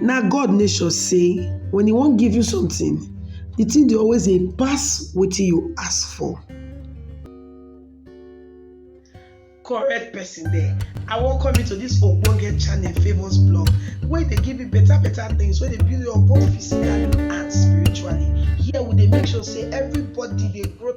Na God nature sey wen e wan give you sometin, di tin dey always dey pass wetin you ask for. Correct pesin dere, I welcome you to dis ogbonge channel Favour's Blog wey dey give you beta beta tins wey dey build you up both physically and spiritually. Here we dey make sure sey everybody dey grow.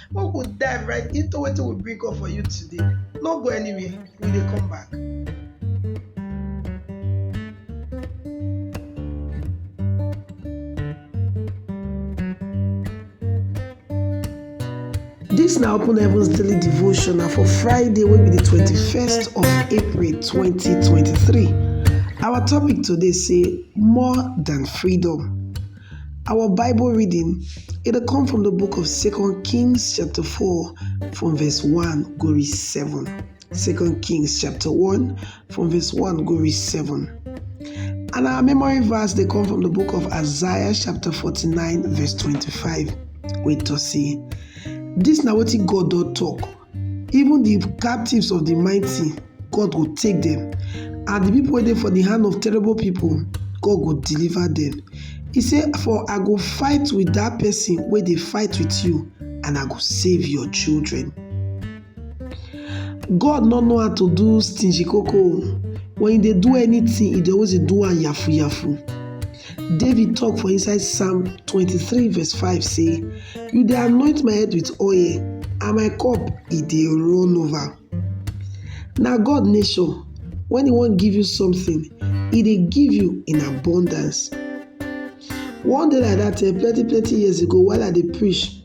Make we dive right into wetin we bring up for you today. No go anywhere, we dey come back. Dis na Open Heavens Daily Devotion na for Friday wey be di twenty-first of April twenty twenty-three. Our topic today say more than freedom. Our Bible reading, it dey come from the book of Second Kings chapter 4 from verse 1 go reach 7. Second Kings chapter 1 from verse 1 go reach 7. And our memory verse they come from the book of Isaiah chapter 49 verse 25. Wait to see. This now what God don't talk. Even the captives of the mighty, God go take them, and the people wey dey for the hand of terrible people, God go deliver them. He say, For I go fight with that person wey dey fight with you, and I go save your children. God no know how to do stingy koko. When e dey do anything, e dey always dey do am yafu yafu. David talk for inside Psalm 23 verse 5 say, You dey anoint my head with oil and my cup e dey run over. Na God nature, when e wan give you something, e dey give you in abundance. One day like that, eh, plenty plenty years ago while I dey preach,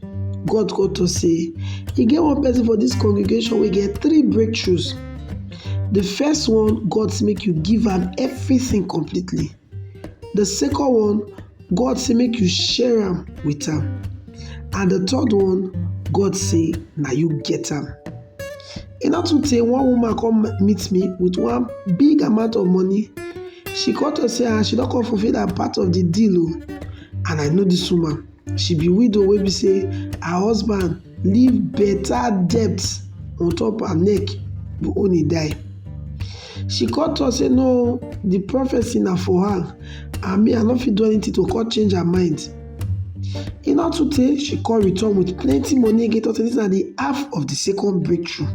God come talk say, e get one person for this congregation wey get three breakthroughs. The first one, God say make you give am everything completely. The second one, God say make you share am with am. And the third one, God say na you get am. E no too tey one woman come meet me with one big amount of money. She come talk say ah she don come fulfil her part of the deal o and I know this woman. She be widow wey be say her husband leave better debt on top her neck but when he die. She come talk say no the prophecy na for her and me I no fit do anything to come change her mind. E no too tey she come return with plenty money again talk say this na the half of the second breakthrough.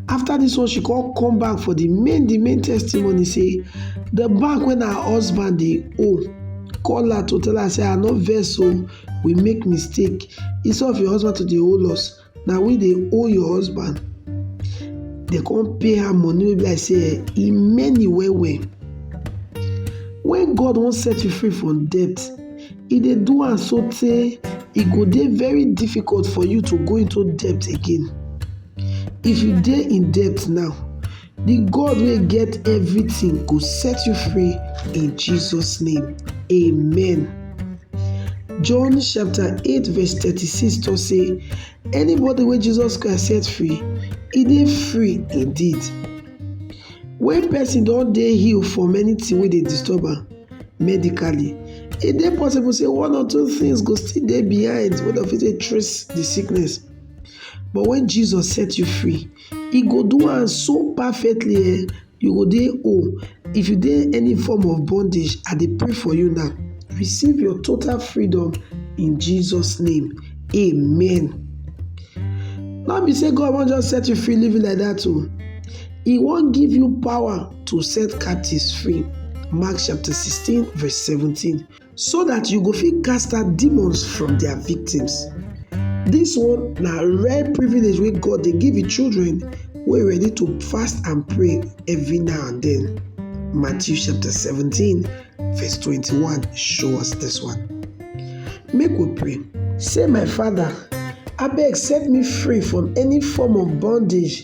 After dis one she come come back for de main de main testimony sey de bank wey her husband dey owe call her to tell her sey I no vex oo we make mistake instead of your husband to dey owe us na we dey owe your husband dem come pay her money wey be like sey e many well well. Wen God wan set you free from debt E dey do am so tey e go dey very difficult for you to go into debt again. If you dey in debt now, the God wey get everything go set you free in Jesus name, amen. John chapter 8 verse 36 talk say anybody wey Jesus Christ set free, e dey free indeed. When person don dey heal from anything wey dey disturb am, medically. E dey possible sey one or two things go still dey behind wey dem fit take trace de sickness but wen Jesus set you free e go do am so perfectly um you go dey whole. If you dey any form of bondage I dey pray for you now receive your total freedom in Jesus name amen. No be sey God wan just set you free leave you like dat oo, e wan give you power to set captives free. Mark chapter 16, verse 17. So that you go fit cast out demons from their victims. This one na rare privilege wey God dey give him children wey ready to fast and pray every now and then. Matthew chapter 17, verse 21 show us this one. Make we pray. Say, My Father, abeg set me free from any form of bondage